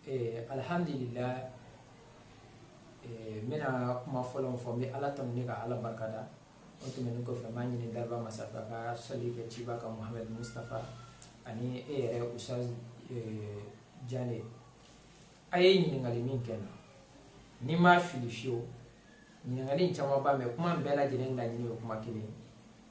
eh, alhamdulillah eh, n bɛna kuma fɔlɔ min fɔ n bɛ ala tanu ni ka ala barika da o tɛmɛnen kɔfɛ n b'a ɲini dariba masaba ka sali kɛ ciba kan muhamadu mustafa ani e yɛrɛ ustaz eh, jane a ye ɲininkali min kɛ n na ni n ma fili fewu ɲininkali in camanba mais kuma bɛɛ lajɛlen laɲini ye kuma kelen ye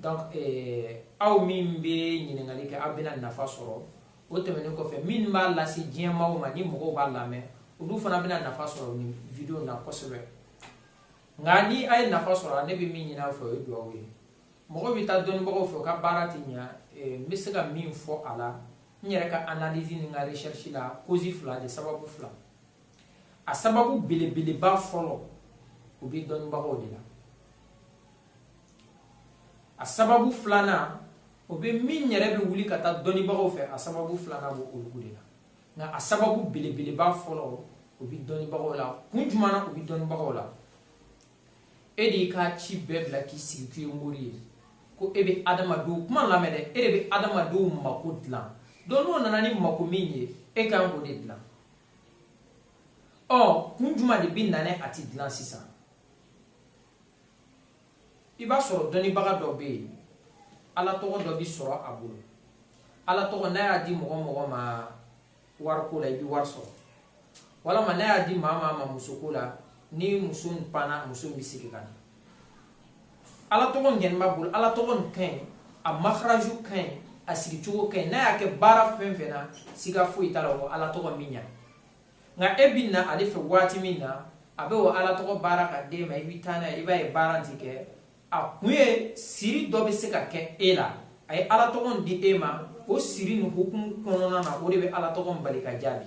donc eh, aw min bɛ ɲininkali kɛ aw bɛna nafa sɔrɔ o tɛmɛnen kɔfɛ min b'a lase diɲɛ maaw ma ni mɔgɔw b'a lamɛn olu fana bɛna nafa sɔrɔ nin video na kosɛbɛ nka ni a ye nafa sɔrɔ ne bɛ min ɲini aw fɛ o ye dugawu ye mɔgɔ bɛ taa dɔnnibagaw fɛ u ka baara tɛ ɲa eh, n bɛ se ka min fɔ a la n yɛrɛ ka analyse ni n ka recherche la cause fila de sababu fila a sababu belebeleba fɔlɔ o bɛ dɔnnibagaw de la a sababu filanan o bɛ min yɛrɛ bɛ wuli ka taa dɔnnibagaw fɛ a sababu filanan b'o olu de la nka a sababu belebeleba fɔlɔ o bɛ dɔnnibagaw la kun jumɛn na o bɛ dɔnnibagaw la e de y'i ka ci bɛɛ bila k'i sigi k'i ye mori ye ko e bɛ adamadenw kuma lamɛn dɛ e de bɛ adamadenw mako dilan donc n'o nana ni mako min ye e kan k'o de dilan ɔ kun juma de bɛ na n'a ye a ti dilan sisan i b'a sɔrɔ dɔnnibaga dɔ bɛ yen ala tɔgɔ dɔ bɛ sɔrɔ a bolo ala tɔgɔ n'a y'a di mɔgɔ mɔgɔ ma wariko la i bɛ wari sɔrɔ walama n'a y'a di maa maa ma musoko la ni muso panna muso bɛ segin ka na ala tɔgɔ nin kɔni b'a bolo ala tɔgɔ nin ka ɲi a makaraju ka ɲi a sigicogo ka ɲi n'a y'a kɛ baara fɛn fɛn na siga foyi t'a la ko ala tɔgɔ in bɛ ɲa nka e bi na ale fɛ waati min na a bɛ o ala tɔgɔ baara ka d'e ma i bɛ taa n'a ye i b'a ye baara ti kɛ a kun ye siri dɔ bɛ se ka kɛ e la a ye ala tɔgɔ di e ma o siri nin hukumu kɔnɔna na o de bɛ ala tɔgɔ bali ka jaabi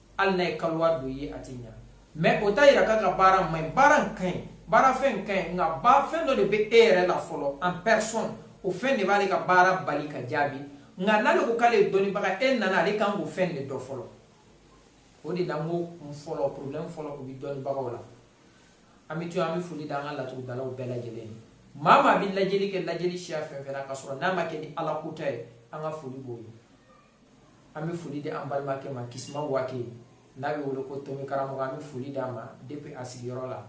hali n'a ye kaluwa don ye a tɛ ɲa mais o t'a yira k'a ka baara man ɲi baara in ka ɲi baara fɛn ka ɲi nka ba fɛn dɔ de bɛ e yɛrɛ la fɔlɔ en personne o fɛn de b'ale ka baara bali ka jaabi nka n'ale ko k'ale ye dɔnnibaga e nana ale kan k'o fɛn de dɔn fɔlɔ o de la n ko kun fɔlɔ problème fɔlɔ o bɛ dɔnnibagaw la an bɛ to an bɛ foli da an ka laturudalaw bɛɛ lajɛlen ye maa maa bɛ lajɛli kɛ lajɛli siya fɛn fɛn na k'a sɔrɔ n'a ma kɛ ni ala kota ye an ka foli b'o ye an bɛ foli di an balimakɛ ma kisima wage n'a bɛ wele ko tomi karamɔgɔ an bɛ foli d'a ma depuis a sigiyɔrɔ la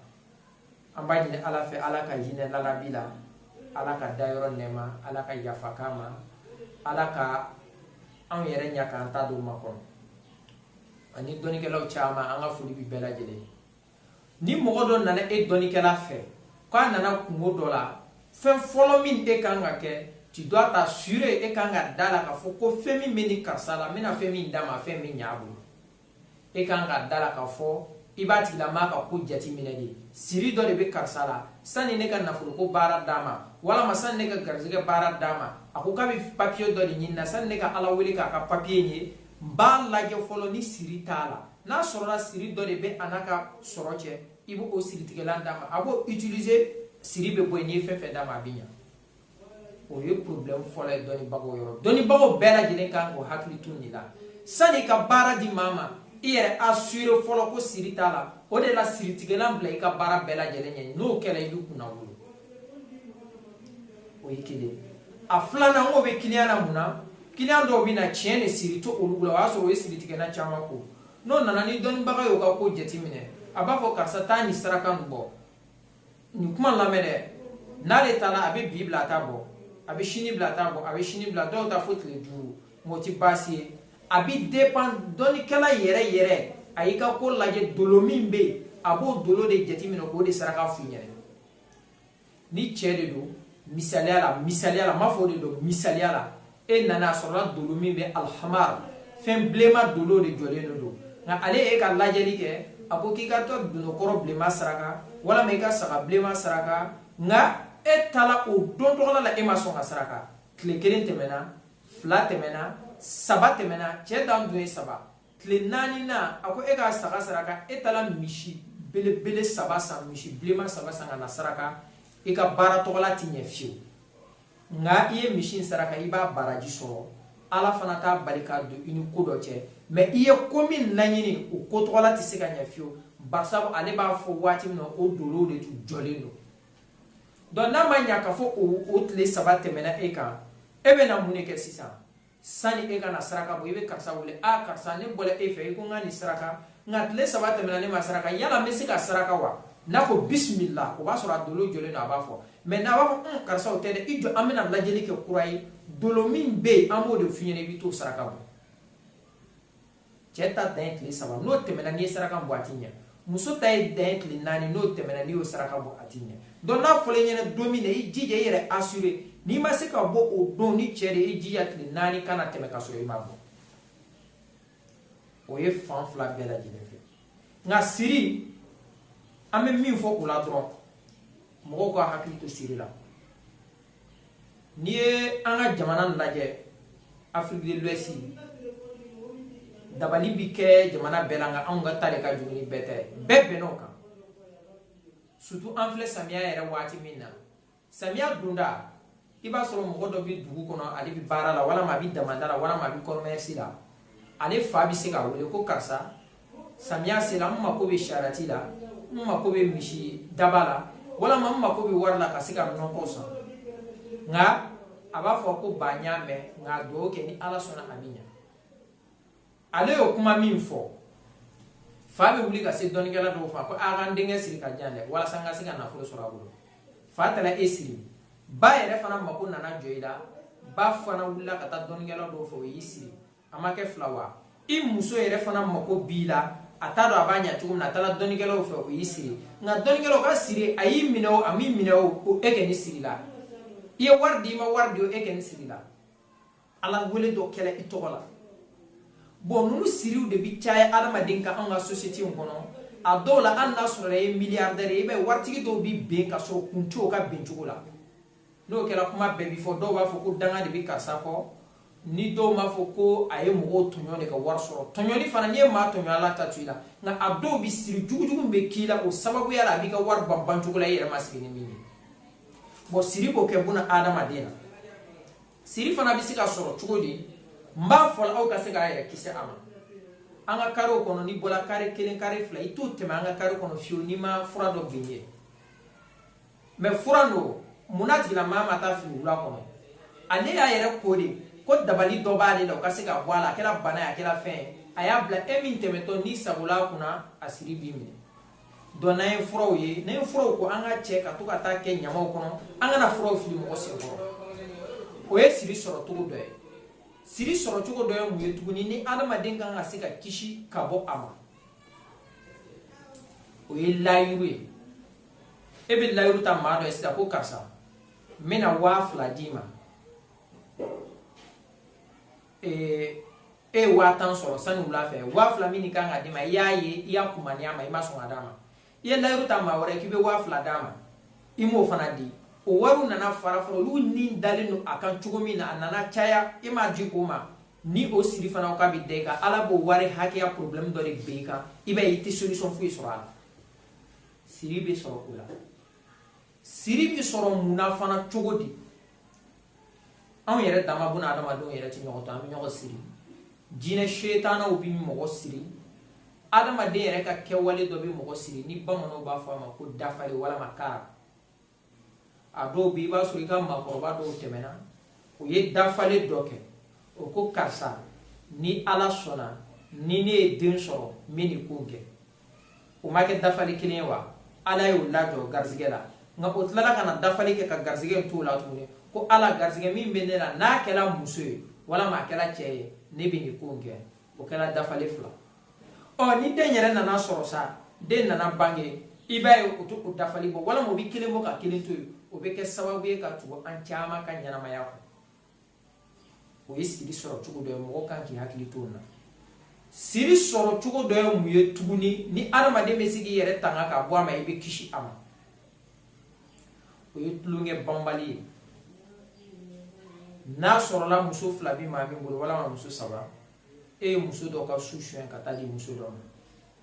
an b'a ɲini ala fɛ ala ka hinɛ lalabi la ala k'a dayɔrɔ nɛɛma ala ka yafa k'a ma ala ka anw yɛrɛ ɲa k'an ta don makɔnɔ ani dɔnnikɛlaw caman an ka foli bi bɛɛ lajɛlen ni mɔgɔ dɔ nana e dɔnnikɛla fɛ k'a nana kunko dɔ la fɛn fɔlɔ min e kan ka kɛ tu dois t'assurer e kan ka da la k'a fɔ ko fɛn min bɛ nin karisa la n bɛna fɛn min d'a ma fɛn bɛ ɲ'a bolo e kan ka da la k'a fɔ i b'a tigilamaa ka ko jateminɛ de siri dɔ de bɛ karisa la sani ne ka nafoloko baara d'a ma walama sani ne ka garizigɛ baara d'a ma a ko k'a bɛ papiye dɔ de ɲini na sani ne ka ala wele k'a ka papiye ye b'a lajɛ fɔlɔ ni siri t'a la n'a sɔrɔla siri dɔ de bɛ a n'a ka sɔrɔ cɛ i b'o siritigɛlan d'a ma a b'o utiliser siri bɛ bɔ yen n'i ye fɛn fɛn d'a ma a bɛ ɲa o ye problème fɔlɔ ye dɔnnibagaw yɔrɔ dɔnnibagaw bɛɛ lajɛlen kan k'o hakili to nin la sani ka baara di maa ma i yɛrɛ assurer fɔlɔ ko siri t'a la o de la siritigɛlan bila i ka baara bɛɛ lajɛlen ɲɛ n'o kɛra i bɛ kunnawolo o ye kelen a filanan o bɛ kiliyan na mun na kiliyan dɔw bɛ na tiɲɛ de siri t'olu la o y'a sɔrɔ o ye siritigɛlan caman ko n'o nana ni dɔnnibaga y'o ka ko jateminɛ a b'a fɔ karisa taa nin saraka nin bɔ nin kuma lamɛn dɛ n'ale taara a bɛ bi bila a t'a bɔ a bɛ sini bila a t'a bɔ a bɛ sini bila dɔw ta fo tile duuru wɔɔrɔ tɛ baasi ye a bɛ depan dɔnnikɛla yɛrɛ yɛrɛ a y'i ka ko lajɛ dolo min bɛ yen a b'o dolo de jateminɛ k'o de saraka f'i ɲɛna ni cɛ de don misaliya la misaliya la m'a fɔ o de don misaliya la e nana a sɔrɔla dolo min bɛ alhamar fɛn bilenma dolo de jɔlen de don n'ale ye e ka lajɛli kɛ a ko k'i ka taa dononkɔrɔ bilenma saraka walama i ka saga bilenma saraka nka e taara o don tɔgɔla la e ma sɔn k'a saraka tile kelen tɛmɛna fila tɛmɛna saba tɛmɛna cɛ dan dun ye saba tile naaninan a ko i ka saga saraka e taara misi belebele saba san misi bilenman saba san ka na saraka i ka baara tɔgɔla tɛ ɲɛ fiyewu nka i ye misi in saraka i b'a baraji sɔrɔ ala fana t'a bali k'a don i ni ko dɔ cɛ mɛ i ye ko min laɲini o ko tɔgɔla tɛ se ka ɲɛ fiyewu barisabu ale b'a fɔ waati min na o dolow de tun jɔlen don donc n'a ma ɲa k'a fɔ o tile saba tɛmɛna e kan e bɛna mun de kɛ sisan sani e ka na saraka bɔ i bɛ karisa wele ah karisa ne bɔra e fɛ i ko n ka nin saraka nka tile saba tɛmɛna ne m'a saraka yala n bɛ se k'a saraka wa n'a ko bisimila o b'a sɔrɔ a dolo jɔlen don a b'a fɔ mɛ n'a b'a fɔ un karisa o tɛ dɛ i jɔ an bɛna lajɛli kɛ kura ye dolo min bɛ yen an b'o de f'i ɲɛna i bɛ t'o saraka bɔ cɛɛ ta dan ye tile saba n'o tɛmɛna n'i ye saraka bɔ a tɛ ɲɛ muso ta ye dan ye tile naani n'o tɛmɛna n'i y'o saraka bɔ a tɛ ɲɛ donc n'a fɔra i ɲɛna don min na i jija i yɛrɛ assurer n'i ma se k'a bɔ o don ni cɛɛ de i jija tile naani kana tɛmɛ ka sɔrɔ i m'a bɔ o ye fan fila bɛɛ lajɛlen fɛ nka siri an bɛ min fɔ o la dɔrɔn mɔgɔw ka hakili to siri la n'i ye an ka jamana lajɛ afrique de l'ouest dabali bi kɛ jamana bɛɛ la nka anw ka ta de ka jugu ni bɛɛ ta ye bɛɛ bɛnna o kan surtout an filɛ samiya yɛrɛ waati min na samiya donda i b'a sɔrɔ mɔgɔ dɔ bɛ dugu kɔnɔ ale bɛ baara la walama a bɛ damada la walama a bɛ commerce la ale fa bɛ se k'a wele ko karisa samiya sera n mako bɛ sarɛti la n mako bɛ misi daba la walama n mako bɛ wari la ka se ka nɔgɔ san nka a b'a fɔ ko ba n y'a mɛn nka dugawu kɛ ni ala sɔnna a bɛ ɲa ale y'o kuma min fɔ fa bɛ wuli ka se dɔnnikɛla dɔ fɛ ko a ka n denkɛ siri k'a ja dɛ walasa n ka se ka nafolo sɔrɔ a bolo fa taara e siri ba yɛrɛ fana mako nana jɔ i la ba fana wulila ka taa dɔnnikɛla dɔw fɛ o y'i siri a ma kɛ fila wa i muso yɛrɛ fana mako b'i la a t'a dɔn a b'a ɲa cogo min na a taara dɔnnikɛlaw fɛ o y'i siri nka dɔnnikɛlaw ka siri a y'i minɛ o a m'i minɛ o ko e kɔni sirila i ye wari di i ma wari di o e kɔni sirila ala wele dɔ kɛla i tɔgɔ la bɔn nunu siriw de bi caya adamaden kan anw ka sosiyete in kɔnɔ a dɔw la hali n'a sɔrɔ i ye miliyardɛri ye i b'a ye waritigi dɔw bi ben ka sɔrɔ kun tɛ o ka ben cogo la n'o kɛra kuma bɛɛ bi fɔ dɔw b'a fɔ ko danga de bi karisa kɔ ni dɔw b'a fɔ ko a ye mɔgɔw tɔɲɔ de ka wari sɔrɔ tɔɲɔni fana n'i ye maa tɔɲɔ ala t'a to i la nka a dɔw bi siri jugujugu min bɛ k'i la o sababuya la a b'i ka wari ban bancogo la i yɛrɛ ma sigi ni min ye bɔn siri b'o kɛ bunaadamaden na siri fana bɛ se ka sɔrɔ cogo di n b'a fɔ aw ka se k'a yɛrɛ kisi a ma an ka karew kɔnɔ n'i bɔra kare kelen kare fila i t'o tɛmɛ an ka kare kɔnɔ fiyewu n'i ma fura dɔ bin ye mɛ fura don mun na tigilamaa ma taa a fili wula kɔnɔ ale y'a yɛrɛ ko de ko dabali dɔ b'ale la o ka se ka bɔ a la a kɛra bana ye a kɛra fɛn ye a y'a bila e min tɛmɛtɔ n'i sagola a kunna a siri b'i minɛ donc n'an ye furaw ye n'an ye furaw ko an k'a cɛ ka to ka taa a kɛ ɲamanw kɔnɔ an kana furaw fili mɔgɔ senkɔrɔ o ye siri sɔrɔ cogo dɔ ye siri sɔrɔ cogo dɔ ye mun ye tuguni ni adamaden kan ka se ka kisi ka bɔ a ma o ye layiru ye e bɛ layiru ta maa dɔ ye sisan ko karisa n bɛna waa fila d'i ma ee e ye waa tan sɔrɔ sani wula fɛ waa fila min kan ka d'i ma i y'a ye i y'a kumaniya a ma i ma sɔn k'a d'a ma i ye layiru ta maa wɛrɛ k'i bɛ waa fila d'a ma i m'o fana di o wariw nana fara fara olu ni dalen don a kan cogo min na a nana caya i m'a di o ma ni o siri fana ka bɛ da i kan ala b'o wari hakɛya problème dɔ de bɛn i kan i b'a ye i tɛ solution foyi sɔrɔ a la siri bɛ sɔrɔ o la siri bɛ sɔrɔ mun na fana cogo di anw yɛrɛ dama buna adamadenw yɛrɛ tɛ ɲɔgɔn to an bɛ ɲɔgɔn siri jinɛ setanaw bɛ mɔgɔ siri adamaden yɛrɛ ka kɛwale dɔ bɛ mɔgɔ siri ni bamananw b'a fɔ a ma ko dafali walama kara a dɔw bɛ i b'a sɔrɔ i ka maakɔrɔba dɔw tɛmɛna u ye dafalen dɔ kɛ o ko karisa ni ala sɔnna ni ne ye den sɔrɔ n bɛ nin ko kɛ o ma kɛ dafali kelen ye wa ala y'o lajɔ garisɛgɛ la nka o tilala ka na dafali kɛ ka garisɛgɛ in t'o la tuguni ko ala garisɛgɛ min bɛ ne la n'a kɛra muso ye walama a kɛra cɛ ye ne bɛ nin ko in kɛ o kɛra dafali fila ɔ ni den yɛrɛ nana sɔrɔ sa den nana bange i b'a ye o tɛ o dafali bɔ walama o bɛ kelen bɔ ka kelen to yen o bɛ kɛ sababu ye ka tugu an caman ka ɲɛnamaya kɔnɔ o ye siri sɔrɔ cogo dɔ ye mɔgɔ kan k'i hakili to o la siri sɔrɔ cogo dɔ ye mun ye tuguni ni adamaden bɛ se k'i yɛrɛ tanga ka bɔ a ma i bɛ kisi a ma o ye tulonkɛ banbali ye n'a sɔrɔla muso fila bɛ maa min bolo walama muso saba e ye muso dɔ ka su suɲɛ ka taa di muso dɔ ma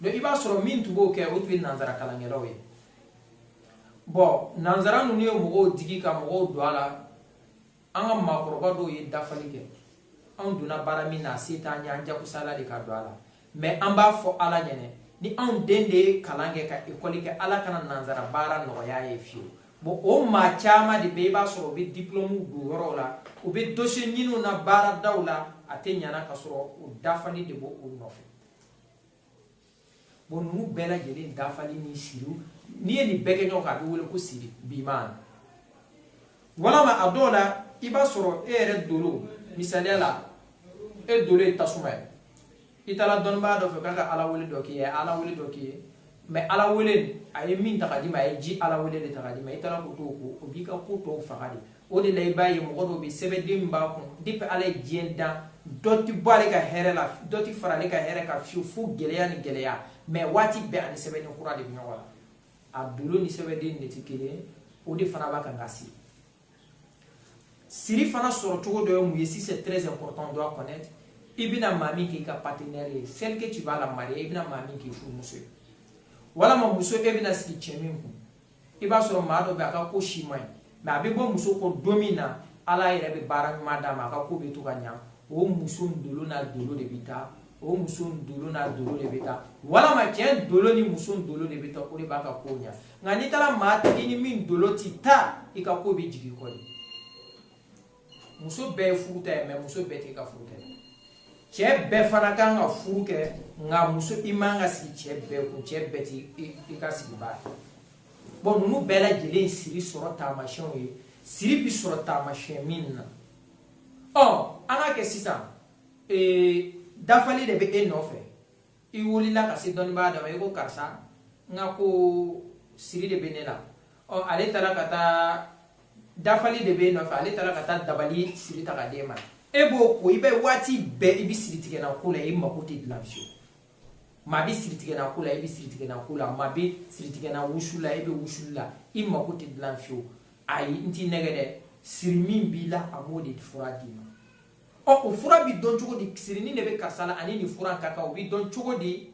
donc i b'a sɔrɔ min tun b'o kɛ o tun ye nanzara kalankɛlaw ye bɔn nanzara ninnu ye mɔgɔw digi ka mɔgɔw don a la an ka maakɔrɔba dɔw ye dafali kɛ anw donna baara min na a se t'an ye an jagoyala de ka don a la mɛ an b'a fɔ ala ɲɛna ni anw den de ye kalan kɛ ka ekɔli kɛ ala kana nanzara baara nɔgɔy'a ye fiyewu bon o maa caman de bɛ i b'a sɔrɔ u bɛ diplɔmu don yɔrɔw la u bɛ dosiye ninnu na baaradaw la a tɛ ɲa ka sɔrɔ u dafali de b'u nɔfɛ bon ninnu bɛɛ lajɛlen dafali ni siriw n'i ye nin bɛɛ kɛ ɲɔgɔn kan a bɛ wele ko siri biman walama a dɔw la i b'a sɔrɔ e yɛrɛ dolo misaliya la e dolo ye tasuma ye i taara dɔnnibaa dɔ fɛ k'a ka ala wele dɔ k'i ye ala wele dɔ k'i ye mɛ ala wele a ye min ta k'a d'i ma a ye ji ala wele de ta k'a d'i ma i taara k'o to ko o b'i ka ko tɔw faga de o de la i b'a ye mɔgɔ dɔw bɛ sɛbɛden min b'a kun depi ala ye diɲɛ dan dɔ ti bɔ ale ka hɛrɛ la dɔ ti fara ale ka hɛrɛ kan fiyewu fo gɛlɛya ni gɛlɛya mɛ waati bɛɛ a ni sɛbɛden kura de bɛ ɲɔgɔn la a dolo ni sɛbɛden de tɛ kelen o de fana b'a kan ka se siri fana sɔrɔ cogo dɔ ye mun ye si c'est très important on doit connaître i bɛna maa min k'i ka partenaire ye celle que tu vas la marier i bɛna maa min k'i furumuso ye walama muso e bɛna sigi cɛ min kun i b'a sɔrɔ maa dɔ bɛ a ka ko si man ɲi mɛ a bɛ bɔ muso kɔ don min na ala yɛrɛ bɛ baara ɲuman d'a ma a ka ko bɛ to ka ɲa o muso dolo n'a dolo de bɛ taa o muso dolo n'a dolo de bɛ taa walama cɛ dolo ni muso dolo de bɛ taa o de b'a ka ko ɲa nka n'i taara maa tigi ni min dolo ti taa i ka ko bɛ jigin kɔ de muso bɛɛ ye furuta ye mɛ muso bɛɛ tɛ ka furu kɛ cɛ bɛɛ fana kan ka furu kɛ nka muso i man ka sigi cɛ bɛɛ kun cɛ bɛɛ ti i ka sigi baara bɔn ninnu bɛɛ lajɛlen siri sɔrɔ taamasiyɛnw ye siri bi sɔrɔ taamasiyɛn min na ɔ an ka kɛ sisan ee dafali de bɛ e nɔfɛ i wulila ka se dɔnnibaa dɔ ma i ko karisa n ka ko siri de bɛ ne la ɔ ale taara ka taa dafali de bɛ nɔfɛ ale taara ka taa dabali siri ta ka d'e ma e b'o ko i bɛ waati bɛɛ i bɛ siri tigɛnan ko la i mako tɛ dilan fiyewu maa bɛ siri tigɛnan ko la i bɛ siri tigɛnan ko la maa bɛ siri tigɛnan wusu la i bɛ wusu la i mako tɛ dilan fiyewu ayi n t'i nɛgɛn dɛ siri min b'i la a b'o de fura d'i ma ɔ o fura bi dɔn cogo di siri nin de bɛ karisa la a ni nin fura ka kan o bi dɔn cogo di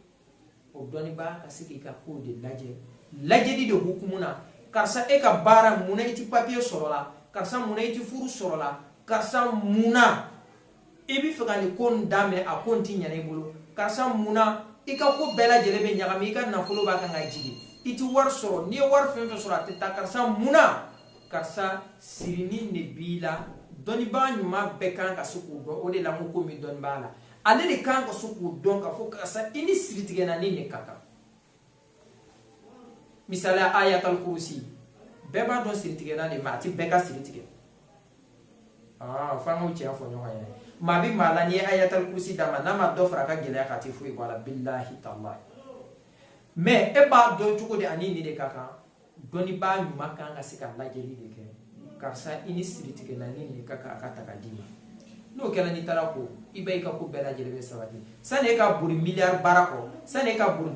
o dɔnnibaa ka se k'i ka kow de lajɛ lajɛli de hukumu na karisa e ka baara mun na i ti papiye sɔrɔ la karisa mun na i ti furu sɔrɔ la karisa mun na i bɛ fɛ ka nin ko nin daminɛ a ko nin ti ɲa na i bolo karisa mun na i ka ko bɛɛ lajɛlen bɛ ɲagami i ka nafolo b'a kan ka jigin i ti wari sɔrɔ n'i ye wari fɛn fɛn sɔrɔ a tɛ taa karisa mun na karisa siri nin de b'i la dɔnnibaa ɲuman bɛɛ kan ka se k'o dɔn o de la ko ko min dɔnni b'a la ale de kan ka se k'o dɔn k'a fɔ karisa i ni siri tigɛnan nin de ka kan misaliya ayatal kurusi bɛɛ b'a dɔn siri tigɛnan de ma a ti bɛɛ ka siri tigɛ ah, f'an k'o tiɲɛ fɔ ɲɔgɔn ye maa bɛ maa la n'i ye ayatal kurusi d'a ma n'a ma dɔ fara a ka gɛlɛya kan a ti foyi bɔ a la bilahi talahi mɛ e b'a dɔn cogo di a ni nin de ka kan dɔnnibaa ɲuman kan ka se ka lajɛli de kɛ karisa i ni siri tigɛlan nin de ka kan a k'a ta k'a d'i ma n'o kɛra n'i taara ko i bɛ i ka ko bɛɛ lajɛlen bɛ sabati sani e ka boli miliyari baara kɔ sani e ka boli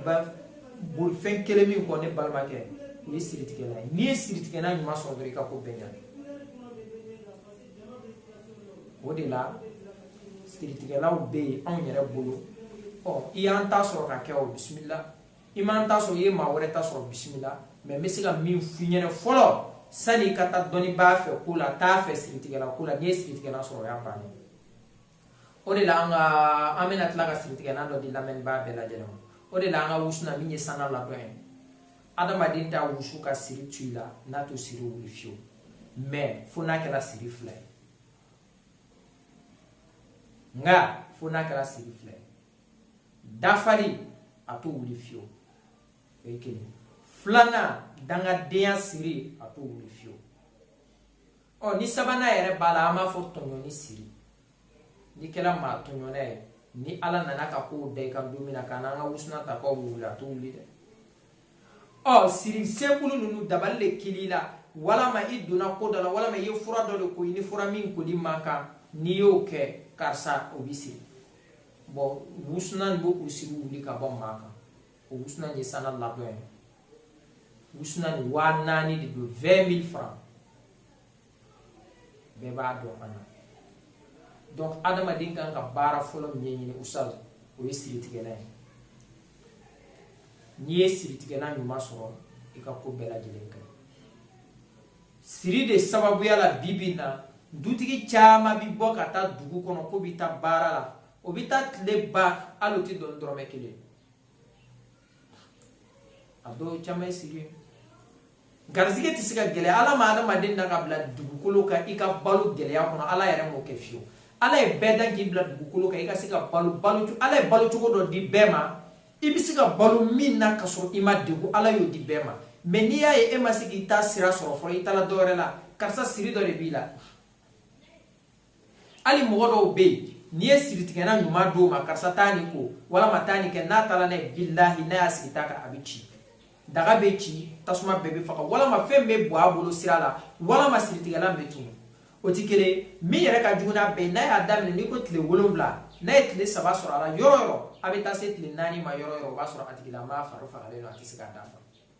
boli fɛn kelen min kɔ ne balimakɛ o ye siri tigɛlan ye n'i ye siri tigɛlan ɲuman sɔrɔ dɔrɔn i ka ko bɛɛ ɲa o de la siri tigɛlanw bɛ yen anw yɛrɛ bolo ɔ i y'an ta sɔrɔ k'a kɛ o bisimila i m'an ta sɔrɔ i ye maa wɛrɛ ta sɔrɔ bisimila mɛ n bɛ se ka min f'i ɲɛna fɔlɔ sani i ka taa dɔnnibaa fɛ ko la t'a fɛ siritigɛlan ko la n'i ye siritigɛlan sɔrɔ o y'a bannen o de la an ka an bɛna tila ka siritigɛlan dɔ di lamɛnibaa bɛɛ lajɛlen ma o de la an ka wusunan min ye sanga ladɔn ye adamaden t'a wusu ka siri to i la n'a t'o siri wuli fiyewu mɛ fo n'a kɛra siri fila ye nka fo n'a kɛra siri fila ye dafari a t'o wuli fiyewu o ye kelen filanan dangadenya siri a t'o wuli fiyewu ɔ ni sabanan yɛrɛ b'a la an b'a fɔ tɔɲɔni siri n'i kɛra maa tɔɲɔna ye ni ala nana ka kow da i kan don min na k'an n'an ka wusulan ta k'o wuli a t'o wuli dɛ ɔ siri sekulu ninnu dabali de kɛl'i la walama i donna ko dɔ la walama i ye fura dɔ de ko i ni fura min koli man kan n'i y'o kɛ karisa o b'i siri bon wusunan bɛ o siri wuli ka bɔ maa kan o wusunan ye sana ladɔn ye wusunan waa naani de don vingt mille francs bɛɛ b'a dɔn fana donc adamaden kan ka baara fɔlɔ min ɲɛɲini sa o ye siritigɛnan ye n'i ye siritigɛnan ɲuman sɔrɔ i ka ko bɛɛ lajɛlen ka siri de sababuya la bi bi in na dutigi caman bi bɔ ka taa dugu kɔnɔ k'o bi taa baara la o bi taa tile ban hali o ti dɔn dɔrɔmɛ kelen a dɔw caman ye siri ye garizigɛ tɛ se ka gɛlɛya ala ma adamaden da ka bila dugukolo kan i ka balo gɛlɛya kɔnɔ ala yɛrɛ m'o kɛ fiyewu ala ye bɛɛ da k'i bila dugukolo kan i ka se ka balo balo ala ye balo cogo dɔ di bɛɛ ma i bɛ se ka balo min na ka sɔrɔ i ma degun ala y'o di bɛɛ ma mais n'i y'a ye e ma se k'i ta sira sɔrɔ fɔlɔ i taara dɔ wɛrɛ la karisa siri dɔ de b'i la hali mɔgɔ dɔw bɛ yen n'i ye siritigɛnan ɲuman d'o ma karisa taa nin ko walama taa nin kɛ n'a taara n'a ye bilahi n'a y'a sigi ta kan a bɛ ci daga bɛ ci tasuma bɛɛ bɛ faga walama fɛn bɛ bɔ a bolo sira la walama siritigɛnan bɛ tunun o tɛ kelen ye min yɛrɛ ka jugu n'a bɛɛ ye n'a y'a daminɛ n'i ko tile wolonwula n'a ye tile saba sɔrɔ a la yɔrɔ yɔrɔ a bɛ taa se tile naani ma yɔrɔ yɔrɔ o b'a sɔrɔ a tigilamaa fari fagalen don a tɛ se k'a dafa